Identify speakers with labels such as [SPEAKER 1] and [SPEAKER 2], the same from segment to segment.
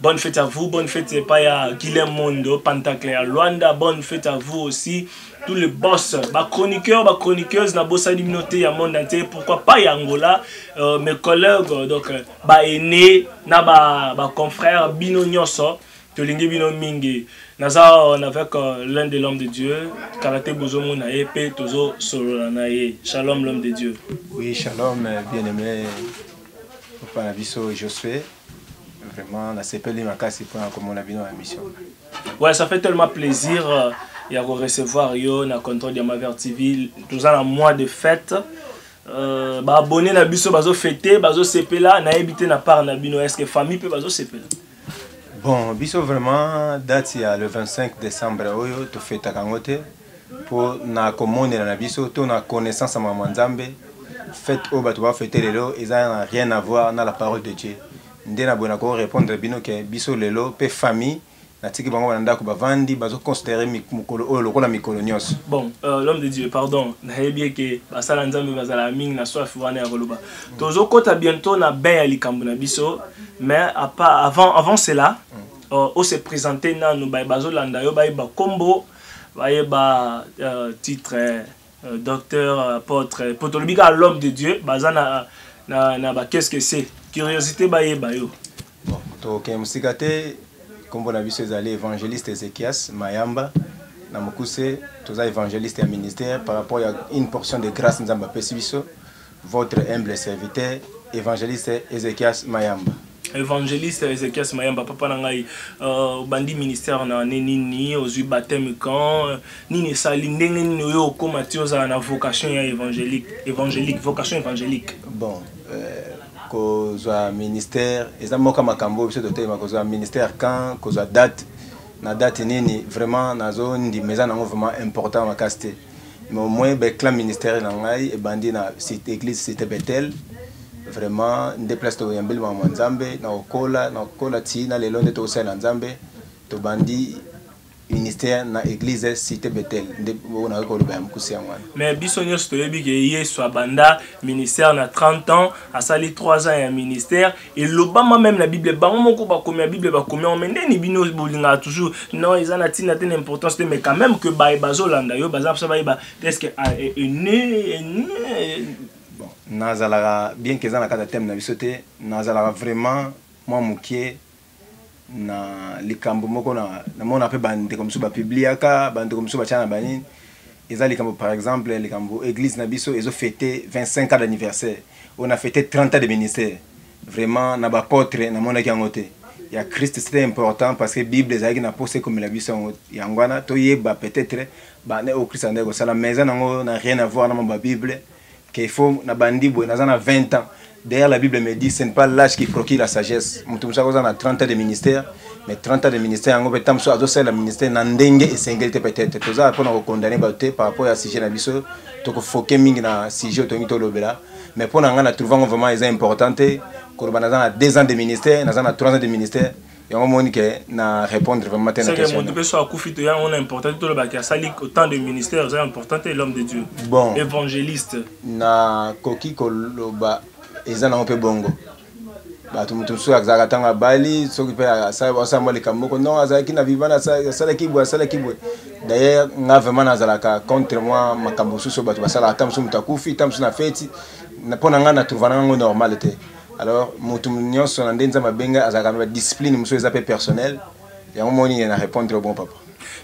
[SPEAKER 1] Bonne fête à vous, bonne fête epai ya Guilain Mondo, Pantacle ya Luanda, bonne fête à vous aussi, tous les boss, ba chroniqueurs, ba chroniqueuses, na bossa liminoté ya monde entier, pourquoi pas ya Angola, euh, mes collègues, euh, donc euh, ba aînés, na ba, ba confrères, bino nyoso, tolingi bino mingi. Naza on avec euh, l'un des l'homme de Dieu, Karate Bozo Monaye, pe Tozo Sololanaye. Shalom l'homme de Dieu. Oui, shalom,
[SPEAKER 2] bien-aimé, Papa Nabiso Josué. Vraiment, la sepeli makasi pour la commune bino la mission. Ouais, ça fait
[SPEAKER 1] tellement plaisir euh, ya ko recevoir yo na contrôle de Maver TV. Nous avons un mois de fête. Euh, ba abonné na biso bazo fêter, bazo sepela na habité na part na bino est-ce que famille peut bazo sepela? Bon,
[SPEAKER 2] biso vraiment date ya le 25 décembre oyo to fêta kangote. mpo na komonela na biso to na connaissance ya makambo ya Nzambe. Fete oyo bato bafete lelo eza na rien à voir na la parole de Dieu. Nde na boye na ko repondre bino ke biso lelo mpe famille natiki bango na ndako bavandi bazo considerer mokolo oyo lokola mikolo nyonso. Bon, euh, l'homme de
[SPEAKER 1] Dieu, pardon, nayebi eke basala Nzambe bazalaka mingi na soif wana ya koloba. Tozo kota bientôt na bain ya likambo na biso, mais avant, avant cela, mm. euh, on se présenter nanu baye bazolanda yo bayeba kombo bayeba euh, titre euh, docteur apotre po tolobi kaka l'homme de dieu baza na, na, na ba qu'est ce que c'est curiosité bayeba yo bon, tokokende
[SPEAKER 2] mosika te nkombo na biso ezali évangéliste ezekias mayamba na mokuse toza évangéliste ya ministère par rapport ya une portion de grâce nzambe apesi biso Votre humble serviteur Evangeliste Ezekias Mayamba. Evangeliste
[SPEAKER 1] Ezekias Mayamba, papa na ngai, euh, bandi ministère na ne nini, ozui baptême quand, nini sali ndenge nini oyo okoma ti ozala na vocation ya évangélique, évangélique, vocation évangélique. Bon, euh,
[SPEAKER 2] kozwa ministère eza moka makambo biso totelema kozwa ministère quand, kozwa date na date nini vraiment nazondima eza nango vraiment important makasi te mais au moins becla ministère na ngai ebandi na site église cité bethel vraiment nde place tokoyambeli makambo ya nzambe na kokola na kokola ti na lelo nde tokosalela nzambe tobandi ministère na église cité bethel nde oyo nakoki koloba ya mokuse yango wana mais biso nyonso toyebi
[SPEAKER 1] ke yesu abanda ministère na 30 ans asali 3 ans ya ministère elobama meme na bible bango moko bakomi ya bible bakomi yango me ndeni bino bolingaka toujours non eza na ntina te na importance te mais quand même que baye bazolanda yo baza mposa bayeba teske ah, eh, eh, eh,
[SPEAKER 2] nazalaka bien ke eza na kati ya teme na biso te nazalaka vraiment mwa mokie na likambo moko na namona mpe bandeko mosusu bapibliaka bandeko mosusu batya na banini eza likambo par exemple likambo église na biso ezo fete 25 ans d'anniversaire oyo na fete 30 ans de ministère vraiment na bapotre namonaki yango te ya christ c'était important parce que bible ezalaki na mposa ekomela biso yango yango wana toyeba peut-être bana oyo christ andaki kosala mais eza nango na rien avoir na mwa babible que faut na bandi boye naza na 20 ans derrière la bible me dit ce n'est pas l'âge qui procure la sagesse mutu mosusu akozala na 30 ans de ministère mais 30 ans de ministère yango mpe ntango mosusu azosalela ministère na ndenge esengeli te peut-être toza mpona kokondane bato te par rapport ya sujet na biso tokofoke mingi na sujet otongi tolobela mais mpo na ngai na trouve yango vraiment eza important te koloba naza na 2 ans de ministère naza na 3 ans de ministère yango omoni ke na répondre vraiment te na question moto mpe so akufi to yango na
[SPEAKER 1] important te tolobaki asali autant de ministère eza important te l'homme de dieu bon évangéliste nakoki
[SPEAKER 2] koloba eza nango mpe bongo bato moto mosusu azalaka ntango abali soki mpe asala mwa likambo moko non azalaki na vivana asalaki boye asalaki boye dayer nga vraiment nazalaka contre mwa makambo mosusu oyo bato basalaka ta mosusu moto akufi ta mosusu na feti mpo na ngai na trouvanango normal te alors moto nyonso na nde nzambe abenga azalaka na badiscipline mosusu eza mpe personnel
[SPEAKER 1] yango
[SPEAKER 2] moni ye
[SPEAKER 1] na
[SPEAKER 2] répondre
[SPEAKER 1] bon papa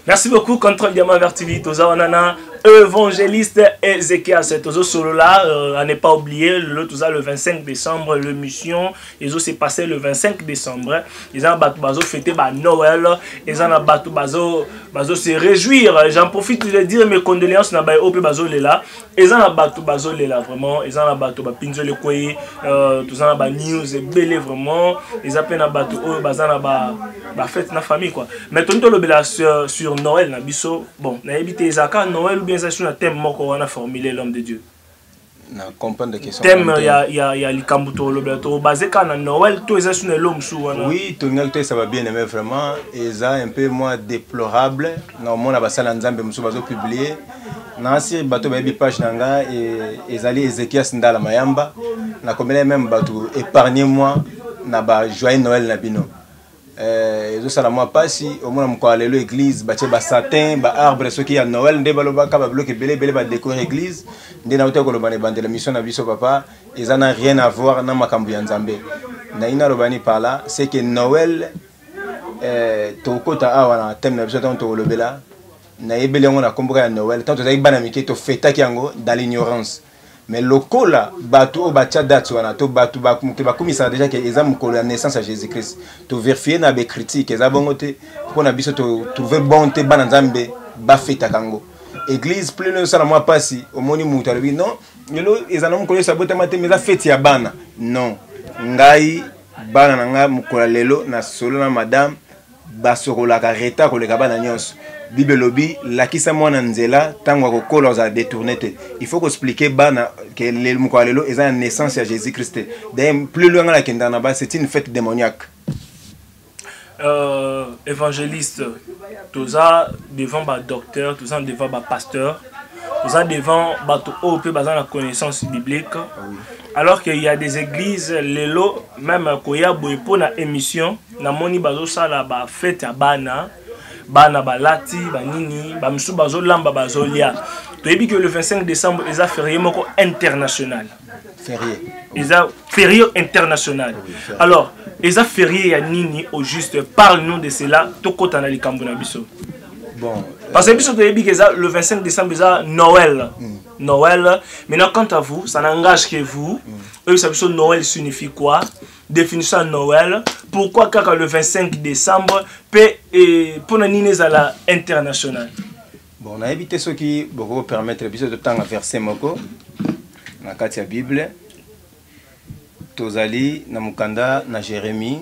[SPEAKER 2] merci
[SPEAKER 1] beaucoup
[SPEAKER 2] contrôle
[SPEAKER 1] diamant
[SPEAKER 2] vers tv
[SPEAKER 1] toza
[SPEAKER 2] wana
[SPEAKER 1] na évangéliste ezekias tozo solola euh, à ne pas oublier lelo toza le 25 décembre le mission ezo se passer le 25 décembre eza na bato bazo fete ba noël eza na bato bazo bazo se réjouir j'en profite de dire mes condoléances na baye oyo mpe bazolela eza na bato bazolela vraiment eza na bato bapinzoli ekwei euh, toza na banews ebele vraiment eza mpe na bato oyo baza na bafete na famille quoi mais toni tolobela sur, sur noël na biso bon nayebi te ezalaka noël ou bien eza sur na thème moko wana formule l'homme de dieu na
[SPEAKER 2] comprendre question thème ya ya ya
[SPEAKER 1] likambo to lobela to basé ka na Noël to eza sur elo musu wana oui to ngal to saba
[SPEAKER 2] bien aimé vraiment eza un peu moins déplorable na mona basala nzambe musu bazo publier nasi bato bayebi page na nga e, ezali ezekias ndala mayamba nakomela meme bato épargne moi na ba joyeux noël na bino eh, ezosala mwa mpasi omona mokolo ya lelo église batye basatin baarbre soki ya noël nde balobaka babiloko ebele ebele badécore église nde nauta koloba na ebandela mission na biso papa eza na rien à voir na makambo ya nzambe nayi naloba ni pala c'est que noël eh, tokokota awa na teme na biso ntango tokolobela nayebeli yango na komboka ya noel ntango tozalaki bana mike tofetaki yango dans l'ignorance mais lokola bato oyo batya date wana to bato mokili bakumisaka deja ke eza mokolo ya naissance ya jésus christ toverifie na bacritique eza bongo te mpo na biso totrouve bon te bana nzambe bafetaka yango église plus loin osala mwa mpasi omoni moto alobi non lelo ezala mokolo yesu abotama te mais eza feti ya bana non ngai bana na ngai mokolo ya lelo na solo na madame basokolaka reta koleka bana nyonso bible elobi lakisa mwana nzela ntango akokola ozala détourne te il faut koexplike bana ke mokolo ya lelo eza ya naissance ya jésus christ te d'ailleurs plus loin ngai nakendaka na ba c'est une fête démoniaque euh,
[SPEAKER 1] évangéliste toza devant badocteur toza devant bapasteur toza devant bato oyo mpe baza na connaissance biblique ah alors qu'il y a des églises lelo même koya boye mpo na émission namoni bazosala bafete ya bana bana balati banini bamisusu bazolamba bazolia toyebi ke le 25 décembre eza ferie moko international ferie
[SPEAKER 2] eza
[SPEAKER 1] ferie international oui, alors eza ferie ya nini au juste parle nous de cela tokota na likambo na biso bon
[SPEAKER 2] euh, parce que biso
[SPEAKER 1] toyebi ke eza le 25 décembre eza noël mm. noël maintenant quant à vous ça n'engage que vous mm. oyebisa biso noël signifie quoi definition ya noel pourquoi kaka le 25 décembre mpe eh, mpo na nini ezala international bon
[SPEAKER 2] nayebi te soki bokoki permettre biso totanga verset moko na kati ya bible tozali na mokanda na jérémie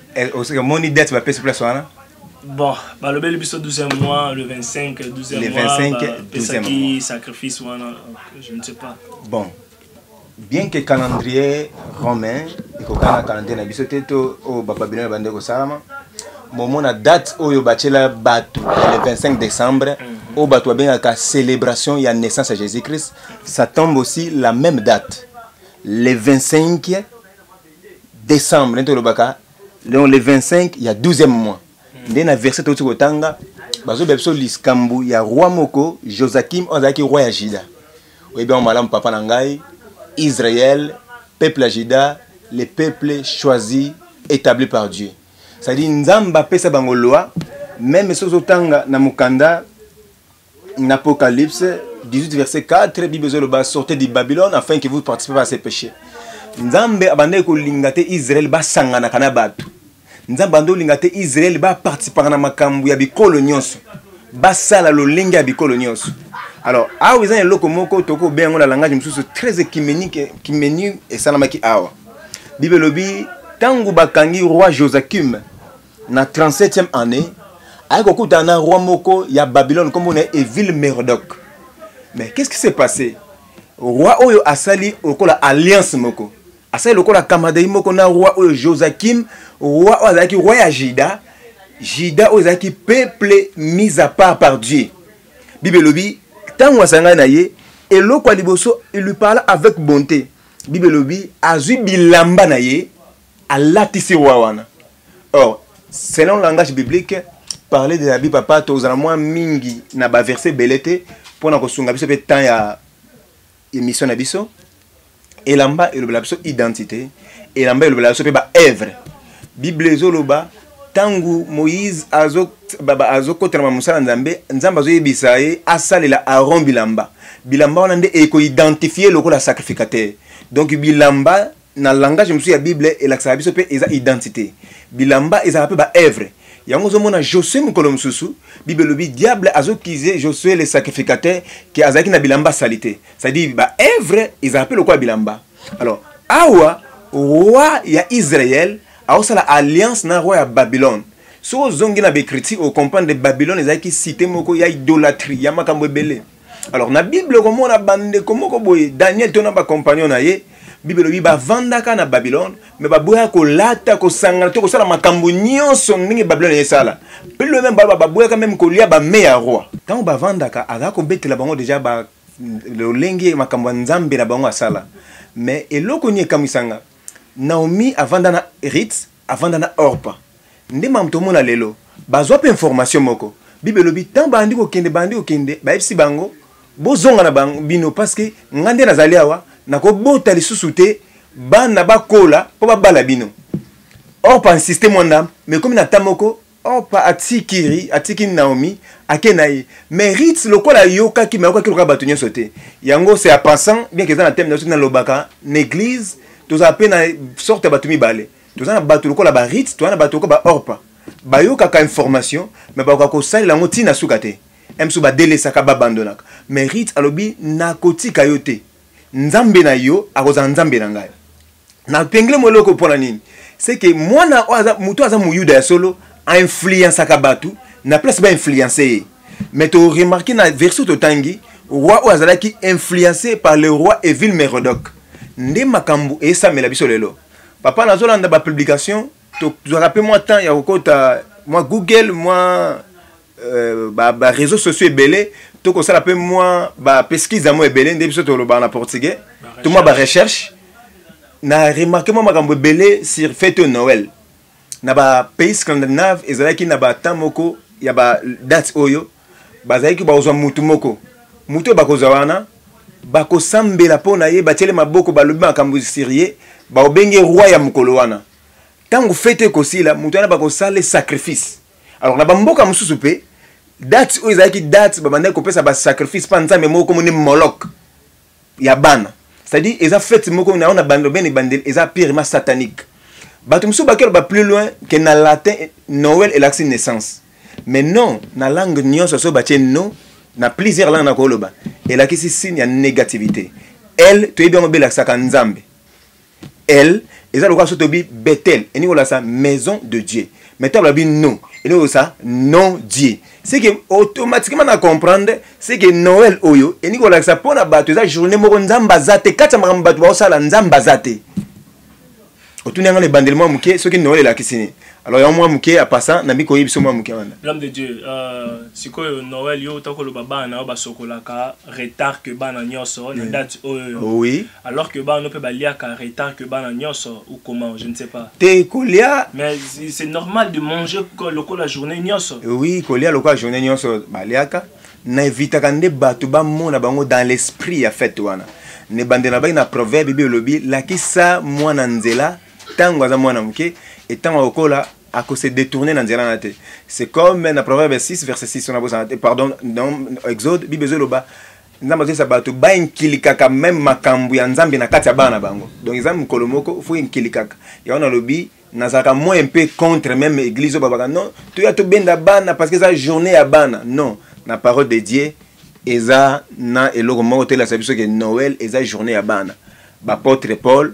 [SPEAKER 2] eh, osika moni date bapesi place wana bon
[SPEAKER 1] balobeli biso 12e mois le 25 12e mois bapesaki
[SPEAKER 2] sacrifice wana
[SPEAKER 1] je ne sais pas bon
[SPEAKER 2] bien que calendrier romain ekokana na calendrier na biso te to oyo bababilone bande kosalama bomona date oyo batyela bato le 25 décembre mhm. oyo bato babengaka célébration ya naissance ya jésus christ ça tombe aussi la même date le 25 décembre nde tolobaka donc le 25 ya 12e mois hmm. nde na verset touti kotanga bazobela biso likambo ya roi moko josakim oyo azalaki roi ya juda oyebi yango malamu papa na ngai israel peuple ya juda le peuple choisi établi par dieu cestadire nzambe apesa bango loi meme soki ozotanga na mokanda Na Apocalypse 18 verset 4, Bible ezoloba sortez du Babylone afin que vous participez pas à ses péchés. Nzambe abandaki kolinga te Israël basanganaka na bato. Nzambe abandaki kolinga te Israël ba participaka na makambo ya bikolo nyonso. Basala lolenge ya bikolo nyonso. Alors, awa eza eloko moko toko bengo na langage mosusu très écuménique, écuménique esalamaki awa. Bible lobi tangu bakangi roi Joachim na 37e année aye kokutana na roi moko ya babylone nkombo na ye evile merodoc mais qu'est ce qui s'est passé roi oyo asali lokola alliance moko asali lokola kamadei moko na roi oyo josakim roi oyo azalaki roi ya juda juda oyo ezalaki peuple mise à part par dieu bible elobi ntango asangani na ye eloko ya liboso il lui parla avec bonté bible elobi azwi bilamba na ye alatisi roi wana or selon langage biblique parler de l'habit papa tozala mwa mingi na baverse ebele te mpo na kosunga biso mpe temps ya émission na biso elamba elobela biso identité elamba elobela biso mpe baevre bible ezoloba ntango moïse azokotana ma mosala nzambe nzambe azoyebisa ye asalela aron bilamba bilamba wana nde ekoidentifie lokola sacrificateur donc bilamba na langage mosusu ya bible elakisaka biso mpe eza identité bilamba ezalaka mpe baevre yango ozomona josue mokolo mosusu bible elobi diable azokize josue le sacrificateur ke azalaki na bilamba sali te cestadire baevre ezalaka mpe lokola bilamba alors awa roi ya israel aosala alliance na roi ya babylone soki ozongi na baecriture okomprendre babylone ezalaki site moko ya idolatrie ya makambo ebele alors na bible okomona bandeko moko boye daniel to na bacompagnon na ye bible elobi bavandaka na babylone me baboyaka kolata kosangana to kosala makambo nyonso ndenge babylone esala pilo meme baloba baboyaka meme kolia bame ya roi ntango bavandaka azala kobetela bango deja ba lolenge makambo ya nzambe na bango asala me eloko nini ekamwisanga naomi avanda na rite avanda na orpa nde mamu tomona lelo bazwa mpe information moko bible elobi ntango bandi kokende bandi kokende bayebisi bango bozonga na bango bino parceke ngai nde nazali awa nakobota lisusu te bana bakola mpo babala bino orpa insiste mwa ndambo mekomi na ta moko Orpa atiki atiki Naomi ake na ye mais Ruth lokola ayokaki mais ayokaki lokola bato nyonso te yango c'est à pensant bien qu'eza na thème na soki nalobaka na église tozala mpe na sorte ya bato mibale toza na bato lokola ba Ruth toza na bato lokola ba Orpa bayokaka information mais bakoka kosalela yango ntina suka te msu badelesaka babandonaka mais Ruth alobi nakotika yo te nzambe na yo akozala nzambe na ngai napengele mwa eloko mpo na nini seke mwana oyo moto oyo aza moyuda ya solo ainfluensaka bato na place bainfluence ye mais toremarke na version totangi roi oyo azalaki influence par le roi evile merodoc nde makambo esamela biso lelo papa nazolanda bapublication tozwaka mpe mwa temps ya kokota mwa google mwa Euh, ba, ba réseaux sociaux ebele tokosala mpe mwa ba pesquise yango ebele nde biso tolobaka na portugais to mwa ba recherche na remarke mwa makambo ebele sur fete oyo noël na ba pays scandinave ezalaki na batemp moko ya ba date oyo bazalaki bakozwa mutu moko mutu oyo bakozwa wana bakosambela mpo na ye batiele maboko balobi makambo sur ye baobenge roi ya mokolo wana ntango fete ekosila moto wana bakosala sacrifice alors na bamboka mosusu mpe date oyo ezalaki date babandaki kopesa basacrifice mpa nzambe moko komoni molok ya bana c'est-à-dire eza fete moko na yango na bando bene ebandeli eza pirima satanique bato mosusu bakelo ba plus loin ke na latin noel elakisi naissance mais non na langue nyonso soki batie no na plusieurs langue nakoloba elakisi signe ya négativité l toyebi yango belakisaka nzambe elle eza lokola soki tobi bethel elingi kolakisa maison de dieu mais ntango lobi non elingi kolakisa non dieu seke automatiquement na comprendre seke noel oyo elingi kolakisa mpo na bato eza journée moko nzambe aza te kati ya makambo bato baosala nzambe aza te otuni yanga na ebandeli mwa moke soki noel elakisi nini alors yango mwa moke ya pasa na mbi koyebi biso mwa moke wana l'homme de dieu euh,
[SPEAKER 1] sikoyo noel yo uta koloba bana na yo basokolaka retard que bana nyonso na date oyo oh, oui alors
[SPEAKER 2] que bana mpe
[SPEAKER 1] baliaka retard que bana nyonso ou comment je ne sais pas te kolia
[SPEAKER 2] mais c'est
[SPEAKER 1] normal de manger lokola journée nyonso eh oui kolia lokola
[SPEAKER 2] journée nyonso baliaka na evitaka nde bato bamona bango dans l'esprit ya fete wana nebandela baki na proverbe bi elobi lakisa mwana nzela ntango aza mwana moke e ntango akokola akose détourner na nzela na te c'est comme na proverbe 6 verset 6 wana bozala te pardon dans exode bible ezoloba nzambe azoyesa bato bainkilikaka meme makambo ya nzambe na kati ya bana na bango donc eza mokolo moko fo inkilikaka yango nalobi nazalaka moyen mpe contre meme église oyo babaka non toya tobenda bana parce que eza journée ya bana non na parole de dieu eza na eloko moko toyelasa biso ke noel eza journée ya bana bapotre paul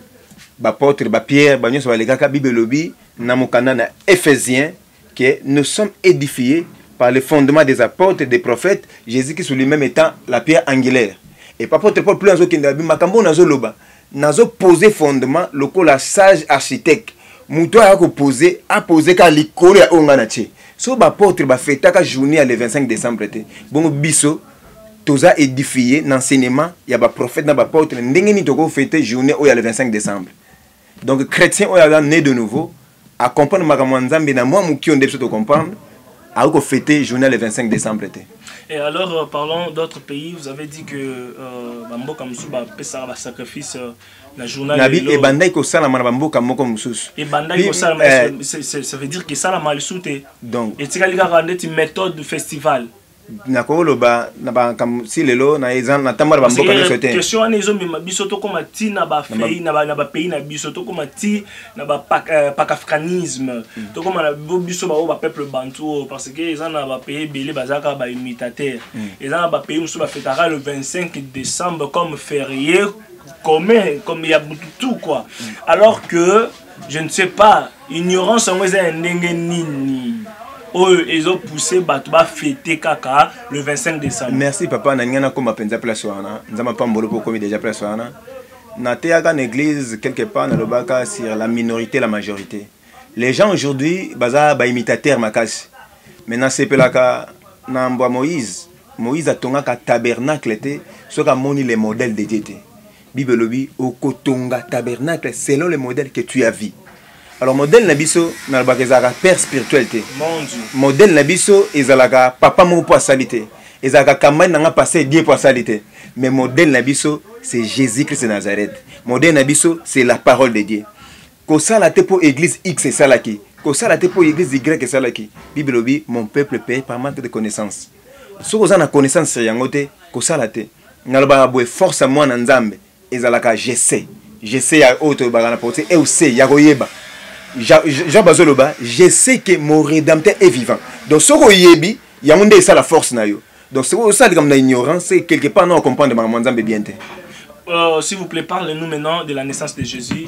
[SPEAKER 2] Bapôtre, ba Pierre, ba nyonso balekaka Bible elobi na mokanda na Ephésien que nous sommes édifiés par le fondement des apôtres, des prophètes, Jésus-Christ lui-même étant la pierre angulaire. Et apôtre Paul plus azokende abi makambo nazo loba, nazo poser fondement lokola sage architecte. Mutu aya ko poser, a poser ka likolo ya onga na tie. So ba apôtre ba fetaka journée ya le 25 décembre te. Bongo biso toza édifié na enseignement ya ba prophète na ba apôtre ndenge nini toko fête journée oyo ya le 25 décembre donc chrétien oyo aza né de nouveau a comprendre makambo ya nzambe na mwa moki oyo nde biso to comprendre akoki ko fête journée le 25 décembre te Et alors, euh,
[SPEAKER 1] parlons d'autres pays. Vous avez dit que euh, Bamboka Moussou va faire un sacrifice euh, la journée. Nabi et Bandai ko sala
[SPEAKER 2] mana Bamboka Moko Moussou. Et Bandai ko sala
[SPEAKER 1] ça veut dire que ça la mal souté. Donc. Et tu as regardé une méthode du festival. nakoloba
[SPEAKER 2] na makambo si lelo natambola bamboka nyonso te question wana ezomema biso
[SPEAKER 1] tokóma ti na bafei na bapays na biso tokóma ti na bapakafricanisme euh, mm. tokóma na biso baoyo bapeuple bantu oyo oh, parce que eza na bapays ebele bazalaka baimitateur mm. eza na bapays mosusu bafetaka le 25 décembre comme férié commun comme ya butu tout quoi mm. alors que je ne sais pas ignorance yango eza ya ndenge nini oyo ezo pousser bato bafete kaka le 25 décembre merci papa na ngai nakoma
[SPEAKER 2] mpenza place wana nzambe apambolo mpo okomi déjà place wana nateyaka na église quelque part nalobaka sur la minorité la majorité les gens aujourd'hui baza baimitateur makasi mais nasepelaka na mbwa moïse moïse atongaka tabernacle te soki amoni le modèle de dieu te bible elobi okotonga tabernacle selon le modèle que tu as vu alors modèle na biso nalobaka ezalaka père spirituel te modèle
[SPEAKER 1] na biso
[SPEAKER 2] ezalaka papa moko mpo asali te ezalaka campagne na nga passe die mpo asali te mais modèle na biso c'est jésus christ de nazareth modèle na biso c'est la parole de dieu kosala te mpo église x esalaki kosala te mpo église y esalaki bible elobi mon peuple paye par manque de connaissance soki oza na connaissance yango te kosala te nalobaka boye force ya mwana nzambe ezalaka jese jese ya oyo tolobaka na porti euse ya koyeba jean bazoloba je sais que mon rédempteur est vivant donc soki oyebi yango nde esala force na yo donc soki osala likambo na ignorance quelque part na ocomprendre makambo ya nzambe bien te Euh,
[SPEAKER 1] S'il vous plaît, parlez-nous maintenant de la naissance de Jésus.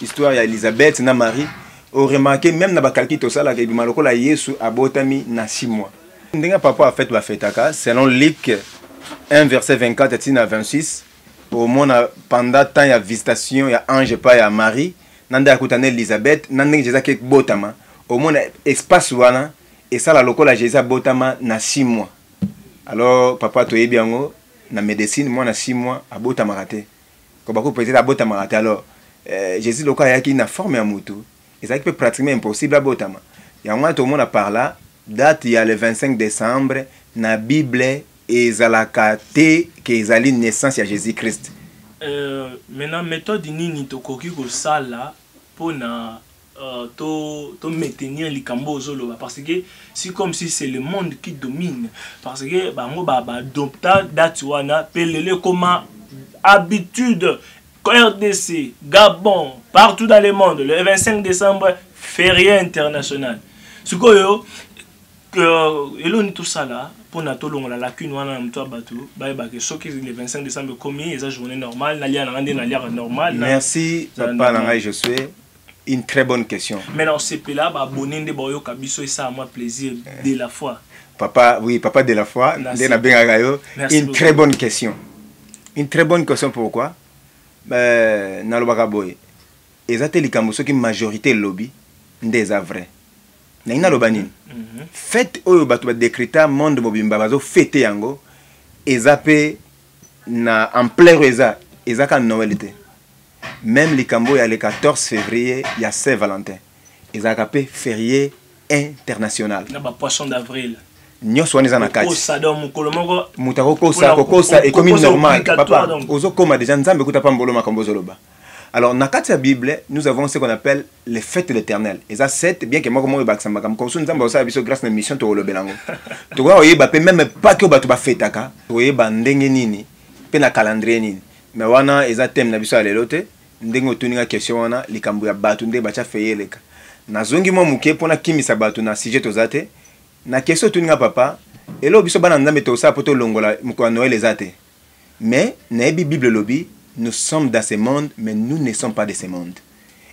[SPEAKER 2] Histoire ya Elisabeth na Marie o remarquer même na ba calcul to sala ke bima lokola Yesu abotami na 6 mois. Ndenge papa a fête ba fêtaka selon Luc 1 verset 24 ti na 26 au mona pendant temps ya visitation ya ange pa ya Marie na nda kuta na Elisabeth na ndenge Jésus ke botama au mona espace wana esala lokola Jésus abotama na 6 mois. Alors papa to yebi yango na medecine mwana 6 mois abotamaka te. Habacuc peut-être abotamaka te alors euh, Jésus lokola ayaki na forme ya mutu ezalaki mpe pratiquement impossible abotama yango wana tokomona par là date ya le 25 décembre na bible ezalaka te ke ezali naissance ya Jésus Christ euh,
[SPEAKER 1] maintenant méthode nini tokoki kosala mpo na to to maintenir likambo ozoloba parce que si comme si c'est le monde qui domine parce que bango ba ba adopta date wana pe lelo ekoma habitude RDC, Gabon, partout dans le monde, le 25 décembre, férié international. Ce que euh, eloni tout ça là, pour na tolongola lacune wana na moto ya bato bayebake soki le 25 décembre ekomi eza journée normale nalia na nga nde nalia normale merci papa
[SPEAKER 2] na ngai josue Une très bonne question. Mais non, c'est là, bah,
[SPEAKER 1] bonne de boyo, kabiso, et ça, moi, plaisir, de la foi. Papa, oui, papa
[SPEAKER 2] de la foi, de la bengagayo. Une très bonne question. Une très bonne question, pourquoi? Euh, na lobaka boye. Eza te likambo soki majorité lobby, nde eza vrai. Na ina loba nini? Mhm. Fête oyo bato ba décreta monde mobimba bazo fête yango, eza pe na ampleur eza, eza ka Noël te. meme likambo ya le 14 février ya saint valentin ezalaka mpe ferie international na ba poisson
[SPEAKER 1] d'avril nyonso wana eza na
[SPEAKER 2] kati moto
[SPEAKER 1] akokosa
[SPEAKER 2] kokosa ekomi normal papa ozokoma deja nzambe kuta pambolo makambo ozoloba alors na kati ya bible nous avons ce qu'on appelle les fêtes de l'éternel eza set bien ke moko moko ebakisa makambo komosusu nzambe akosala biso grâce na mission tokolobela yango tokoya koyeba mpe meme paki oyo bato bafetaka tokoyeba ndenge nini mpe na calendrier nini mais wana eza thème na biso ya lelo te ndenge otuni nga question wana likambo ya bato nde batya feye eleka nazongi mwa moke mpo nakimisa bato na sujet toza te na question otuni nga papa eloo biso bana nzambe tosala mpo tolongola mokolo ya noel eza te mais nayebi bible elobi nous sommes dans ce monde mais nous ne sommes pas de ce monde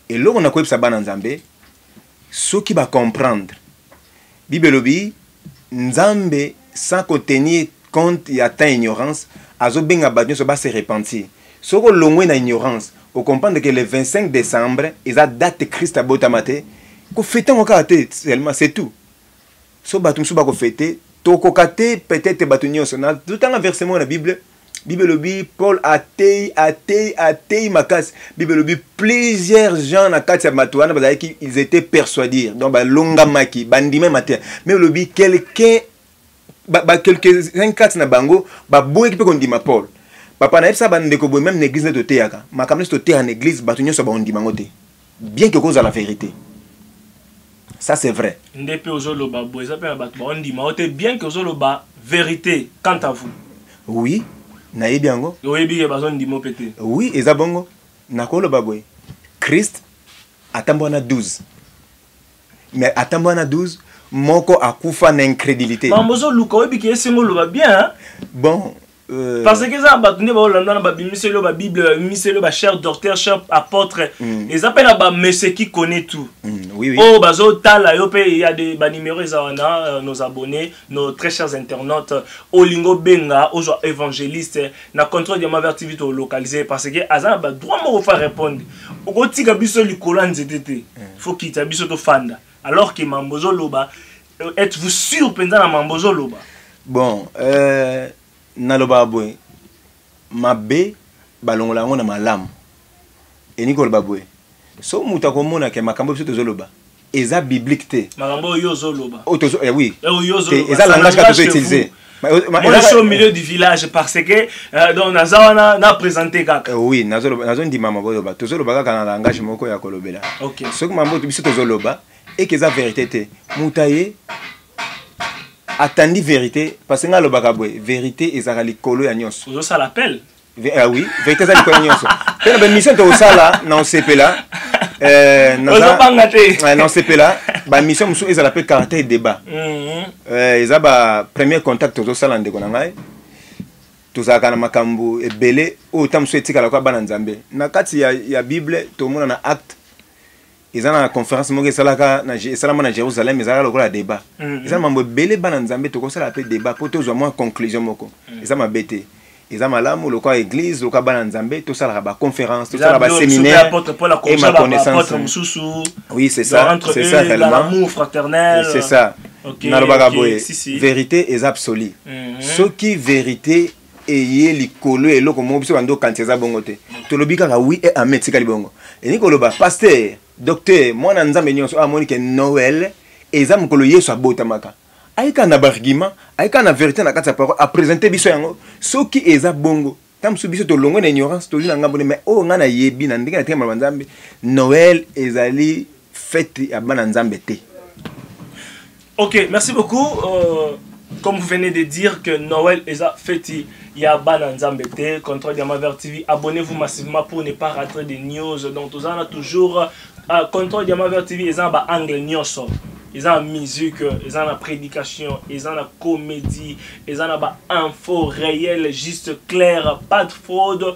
[SPEAKER 2] eloko nakoyebisa bana nzambe Soki ba comprendre. Bible elobi Nzambe sans ko tenir compte ya temps ignorance azo benga batu nioso ba se repentir. Soki olongwe na ignorance o comprendre que le 25 decembre eza date Christ abotama te ko fetango kaka te seulement c'est tout. so bato mosusu bakofete tokoka te peut-être bato nyonso na totanga verse moko na bible bible elobi paul atei atei atei makasi bible elobi plusieurs gens na kati ya bato wana bazalaki ils étaient persuadir donc balongamaki bandimai mateya me elobi quelqu'un quelques-uns kati na bango baboyaki mpe kondima paul papa nayebisa bandeko boye meme na église nde toteyaka makambo nyonso toteya na église bato nyonso bakondima yango te bien que kozala verite ça c'est vrai nde pe ozoloba
[SPEAKER 1] bo eza pe na bato baondima yo te bien que ozoloba verite quant à vous oui
[SPEAKER 2] nayebi yango oyebi ke bazondimo pe te
[SPEAKER 1] oui eza bongo
[SPEAKER 2] nakoloba boye christ atambwa na 12 mais atambo wana 12 moko akufa na incrédulité mambo ozoluka oyebi ke
[SPEAKER 1] esengo oloba bien hein? bon euh...
[SPEAKER 2] parce que
[SPEAKER 1] eza bato nde baolanda na babimiseli oyo babible babimiseli oyo bachere docteur chere apôtre mm. eza mpe na bamessie qui connaît tout mm, oui, oui. oyo oh,
[SPEAKER 2] bazotala
[SPEAKER 1] yo mpe ya de banimero eza wana euh, nos abonnés nos très chers internautes olingo benga ozwa évangéliste na contrôle de maver tv to localiser parce que aza na ba droit moko fa répondre okotika biso likolo ya nzete te mm. faut kita biso tofanda alors que mambo ozoloba euh, êtes-vous sûr mpenza na mambo ozoloba bon
[SPEAKER 2] euh, nalobaka boye mabe balongola yango na malamu elingi koloba boye so moto akomona ke makambo biso tozoloba eza biblique te makambo oyo ozoloba
[SPEAKER 1] oh, tozo eh oui eh, oyo
[SPEAKER 2] ozoloba eza langage
[SPEAKER 1] kaka tozoutiliser
[SPEAKER 2] Moi, je suis
[SPEAKER 1] au milieu du village parce que euh, donc naza wana na présenter kaka. Euh, oui, nazo nazo ndima
[SPEAKER 2] maboloba. Tozo loba kaka na langage moko ya kolobela. OK. Soki mambo
[SPEAKER 1] biso tozo
[SPEAKER 2] loba et que eza vérité te. Mutaye atandi verite parce ngai alobaka boye verite ezalaka likolo ya nyonso ozosala appel
[SPEAKER 1] ah oui verite
[SPEAKER 2] eza likolo ya nyonso mpe na bamission tokosala na osepela eh, ozobanga te eh, na osepela bamission mosusu ezala mpe caractère débat mhm. eh, eza ba premier contact tozosala ndeko na ngai tozalaka na makambo ebele oyo ntango mosusu etikala kwa bana nzambe na kati ya, ya bible tomona na acte eza na conférence moko esalaka esalama na jérusalem ezalaka lokola débat mm-hmm. eza na mambo ebele bana nzambe tokosala mpe débat mpo tozwa mwa conclusion moko mm. eza mabe te eza malamu lokola église lokola bana nzambe tosalaka baconférence tosala baséminaire et ma connaissance oui c'est ça c'est ça réellement
[SPEAKER 1] c'est ça
[SPEAKER 2] nalobaka boye vérité eza absolue mm-hmm. soki vérité eye likolo ya eloko moko biso bando okanisa eza bongo te tolobi kaka wi e ame etikali bongo elingi koloba paster docteur mwana nzambe nyonso amoni ke noel eza mokolo yesu abotamaka ayika na bargument ayika na verité na kati ya parole apresente biso yango soki eza bongo ntango mosusu biso tolongwe na ignorance tozwi na ngambo nde mai oyo ngai nayebi na ndenge na tika maloba nzambe noel ezali fete ya bana nzambe te
[SPEAKER 1] ok merci beaucoup euh, comme vous venez de dire que noël eza feti ya bana nzambe te contrôle ya maver tv abonnez-vous massivement pour ne pas rater des news donc toza na toujours euh, contrôle ya maver tv eza na ba angle nyonso eza na musique eza na prédication eza na comédie eza na ba info réel juste claire pas de fraude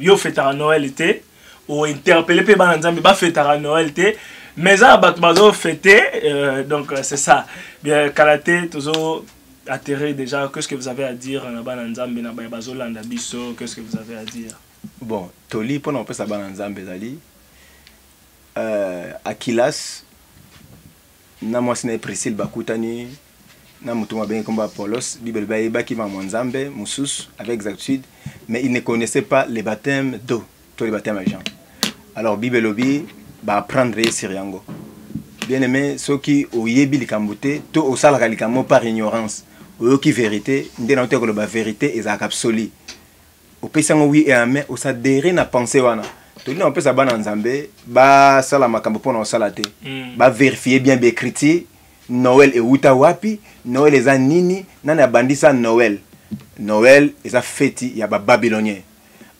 [SPEAKER 1] yo fetaka noel te ointerpele mpe bana nzambe bafetaka noel te mais eza na bato bazofete euh, donc euh, c'est ça bien kala te tozo atterrir déjà qu'est ce que vous avez à dire na bana nzambe na baye bazolanda biso qu'est ce que vous avez à dire bon toli
[SPEAKER 2] mpona kopesa bana nzambe ezali euh, akilas na mwasi na ye Priscille bakutani na moto moko abengi nkombo Apollos. Bible elobi ayebaki makambo ya Nzambe mosusu avec exactitude, mais il ne connaissait pas le baptême d'eau to le baptême ya Jean. Alors Bible elobi ba apprendre ye sur yango. Bien aimé, soki oyebi likambo te to osalaka likambo par ignorance, oyoki verite nde na ote koloba verite ezalaka absolue. opesi yango wi et amen osadere na pensée wana tolingi kopesa bana ya nzambe basala makambo mpo na kosala te mm. baverifie bien baecriture noel ewuta wapi noel eza nini nani abandisa noel noel eza feti ya bababylonien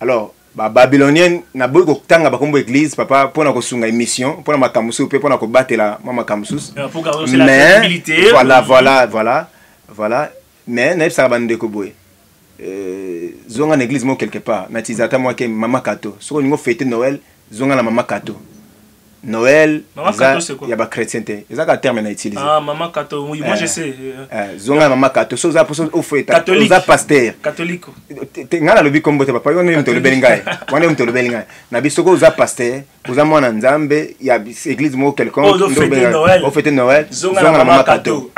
[SPEAKER 2] alors bababylonien naboyi kotanga bakombo église papa mpo na kosunga émission mpo na makambo mosusu mpe mpo na kobatela mwa makambo mosusu euh,
[SPEAKER 1] mais voilà voilà voilà
[SPEAKER 2] voilà mais nayebisaka bandeko boye euh, zonga na église moko quelque part na tiza ata mwake mama kato soki olingi ofete noel zonga na mama kato noel ya bachrétien te eza kaka terme na utilise ah,
[SPEAKER 1] eh, eh, zonga na mama
[SPEAKER 2] kato so oza mposo ofetoza paster
[SPEAKER 1] ngai nalobi
[SPEAKER 2] kombo te papa wana yo moto olobeli ngai wana yo moto olobeli ngai na biso soki oza paster oza mwana nzambe ya église moko quelconqueofete noël zonga na mama kato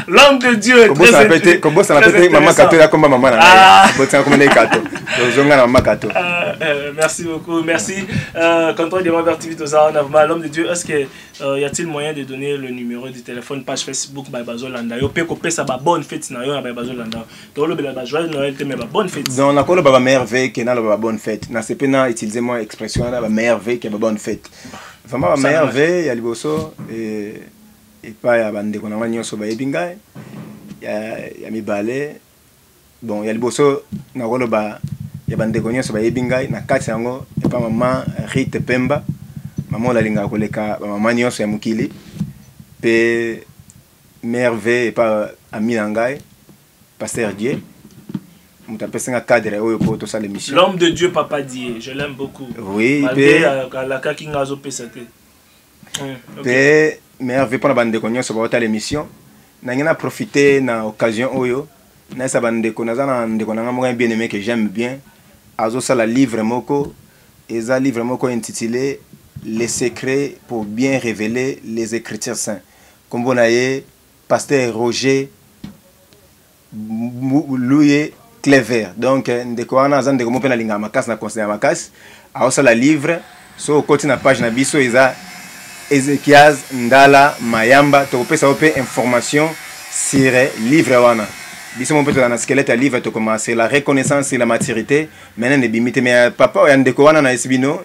[SPEAKER 1] l'homme de dieu kobosana pe te
[SPEAKER 2] mama kato yakomba mama na ngai botisana komba ndenge kato ozonga na mama kato merci
[SPEAKER 1] beaucoup merci euh, contrôle de mabert tv toza wana vraimen l'homme de dieu est ce que euh, y a-t-il moyen de donner le numéro du téléphone page facebook baye bazolanda yo mpe kopesa babonne fete na yo na baye bazolanda tolobela ba joyeux noël te mais ba bonne fête donc nakoloba ba meilleure vue
[SPEAKER 2] ke naloba ba bonne fête nasepe na utilise mwa expression wana ba meilleure vue ke ba bonne fête vraiment ba meilleure vue ya liboso epai ya bandeko na ngai nyonso bayebi ngai ya mibale bon ya liboso nakoloba ya bandeko nyonso bayebi ngai na kati yango epa mama rite pemba mama oyo nalingaka koleka bamama nyonso ya mokili mpe merve epa ami na ngai pasteur die moto apesi nga cadre oyo mpo tosala émission l'homme de dieu papa
[SPEAKER 1] die je l'aime beaucoup oui mpe
[SPEAKER 2] alakaki
[SPEAKER 1] nga azopesa te
[SPEAKER 2] mpe merve mpo na bandeko nyonso baotala émission nange na profite na occasion oyo nayesa bandeko naza na ndeko na ngai moko ya bien aimé que j'aime bien azosala livre moko eza livre moko intitulé les secrets pour bien révéler les écritures saints Kombo na ye Pasteur Roger Luye Clever. Donc ndeko wana aza ndeko moko pe na lingaka makasi na conseil ya makasi. Aosala livre so okoti na page na biso eza Ezekiaz Ndala Mayamba tokopesa yo pe information sur livre wana. Biso moko pe tozala na squelette ya livre tokoma sur la reconnaissance sur la maturite. Maintenant ebimi te mais papa ya ndeko wana na yebisi bino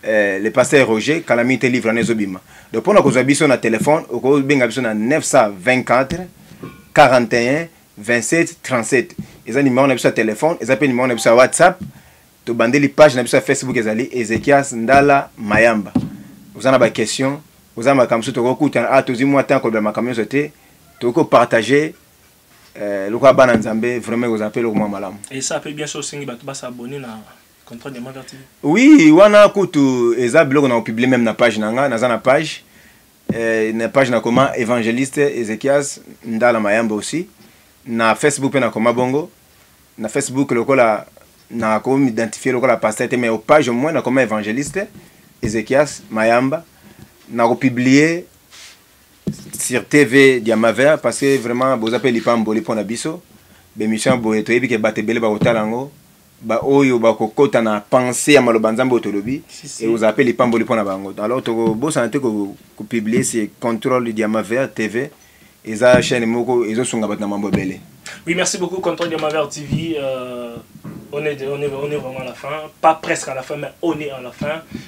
[SPEAKER 2] Eh, le pasteur Roger kala mingi te livre wana ezobima donc mpona kozwa biso na telefone okobenga biso na 924 41 27 37 eza nimero na biso ya telefone eza mpe nimero na biso ya whatsapp tobandeli page na biso ya facebook ezali ezekias ndala mayamba oza na baquestion oza na makambo mosusu tokokutana a ah, tozwi mwa ntango kolobela makambo nyonso te tokoki kopartage eh, lokola bana nzambe vraiment ekozala mpe eloko mwa malamu esa mpe bien so osengi
[SPEAKER 1] bato basabone na contrat de martyr oui wana
[SPEAKER 2] kutu eza biloko na publier même na page na nga naza na page eh, na page na koma évangéliste Ezekias Ndala Mayamba aussi na Facebook pe na koma bongo na Facebook lokola na ko m'identifier lokola pasteur te mais au page au moins na koma évangéliste Ezekias Mayamba na ko publier sur TV Diamaver parce que vraiment boza pe lipamboli pona biso bemission boye toyebi ke batebele bakotala yango ba oyo bakokota na pense ya maloba nzambe oyo tolobi ekozala mpe lipamboli mpo na bango alors tokobosana te kopublie ko se controle diamaver tv eza chaîne moko ezosunga bato na
[SPEAKER 1] mambo
[SPEAKER 2] ebele
[SPEAKER 1] oui
[SPEAKER 2] merci
[SPEAKER 1] beaucoup
[SPEAKER 2] controle diamaver
[SPEAKER 1] tv
[SPEAKER 2] euh, on,
[SPEAKER 1] est, on, est, on est vraiment à la fin pas presque à la fin mais on est à la fin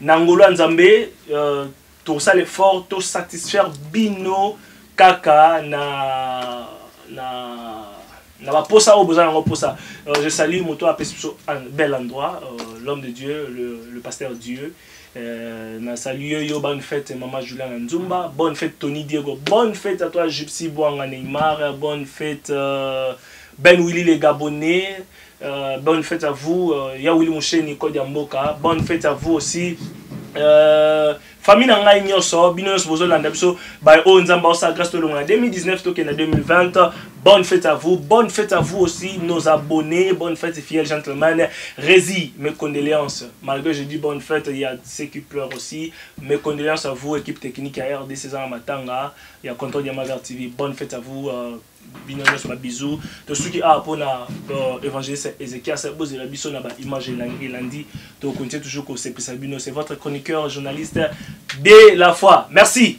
[SPEAKER 1] na ngolu ya nzambe euh, tosala effort to satisfaire bino kaka na na na baposa oyo boza nango posa euh, je salue moto apesi biso un bel endroit euh, l'homme de dieu le, le pasteur dieu euh, na salue yo yo bonne fête mama julia na nzumba bonne fête tony diego bonne fête à toi gypsy bwanga neymar bonne fête euh, ben willy le gabonais Euh, bonne fête à vous euh, ya Willy Moucheni code ya mboka bonne fête à vous aussi euh, famille na ngai nyonso bino nyonso bozolanda biso baye oyo nzambe aosala grâce tolongo na 2019 tokenda 2020 bonne fête à vous bonne fête à vous aussi nos abonnés bonne fête fidèle gentleman Rési mes condoléances malgré je dis bonne fête il y a ceux qui pleurent aussi mes condoléances à vous équipe technique à RDC Zana Matanga il y a contrôle Diamagar TV bonne fête à vous euh, bino nyonso ba bisous tosuki awa mpo na euh, évangéliste ézéchias bozela biso na baimage elandi tokontie toujours kosepelisa bino c'est votre chroniqueur journaliste de la foi merci